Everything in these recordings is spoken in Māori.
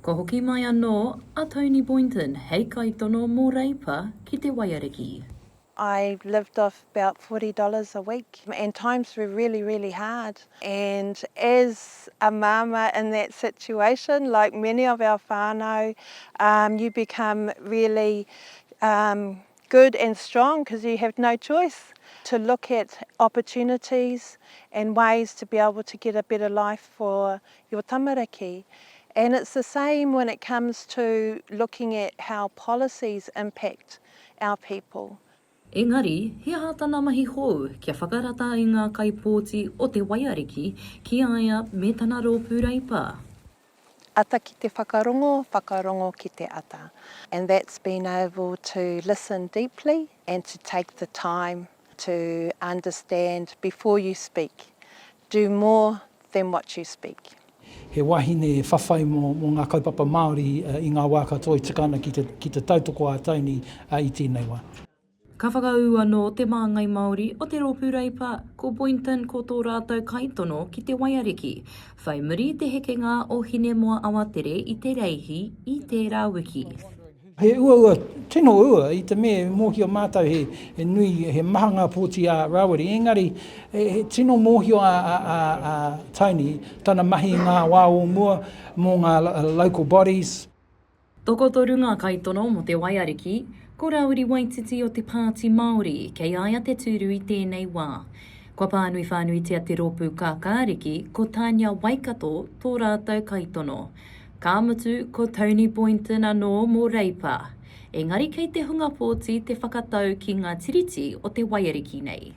Kua hoki mai anō a Tony Boynton hei kaitono mō Reipa ki te Waiariki. I lived off about forty dollars a week and times were really really hard and as a mama in that situation like many of our whanau you become really good and strong because you have no choice to look at opportunities and ways to be able to get a better life for your tamariki and it's the same when it comes to looking at how policies impact our people. Engari, he aha tana mahi hou kia whakarata ai ngā kaipōti o te waiariki ki a ia me tana rōpū reipa? ata ki te whakarongo, whakarongo ki te ata and that's being able to listen deeply and to take the time to understand before you speak, do more than what you speak. He wahine whawhai mō ngā kaupapa Māori i ngā wā katoa i tika ana ki te tautoko ā-tini i tēnei wā. Ka whakaū anō Te Māngai Māori o te Rōpū Reipa ko Boynton ko tō rātou kaitono ki te waiariki. Whai muri i te hekenga o Hinemoa Awatere i Te Reihi i tērā wiki. He uaua, tino ua, i te mea e mōhio mātou he nui, he maha ngā pōti a Rawiri, engari he tino mōhio a Tony tana mahi i ngā wā o mua mō ngā local bodies, Tokotoru ngā kaitono mō te waiariki, ko Rāwiri Waititi o Te Pāti Māori kei a ia te tūru i tēnei wā. Kua pānui whānuitia te rōpū kākāriki, ko Tania Waikato tō rātou kaitono. Ka mutu, ko Tony Boynton anō mō Reipa. Engari kei te hunga pōti te whakatau ki ngā tiriti o te waiariki nei.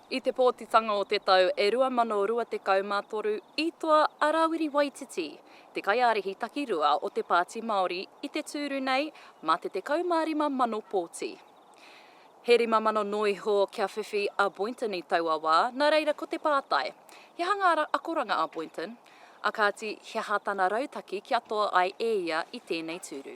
I te pōtitanga o te tau e rua mano rua tekau mā toru i toa a Rawiri Waititi, te kaiārahi takirua o te Pāti Māori i te tūru nei mā te tekau mā rima mano pōti. He rima mano noa iho kia whiwhi a Boynton i taua wā, nā reira ko te pātai, he aha ngā akoranga a Boynton, ā kāti he aha tana rautaki kia toa ai e ia i tēnei tūru.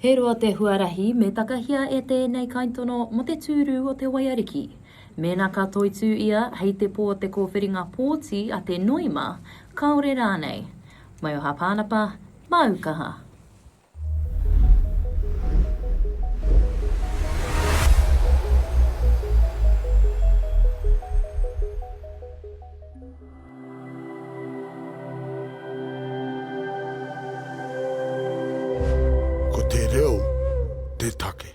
He roa te huarahi me takahia e tēnei kaitono mō te tūru o te waiariki. Mēnā ka toitū ia hei te pō te kōwhiringa pōti a te noema, kāore rānei. Maioha Pānapa, māu kaha. Ko te reo te take.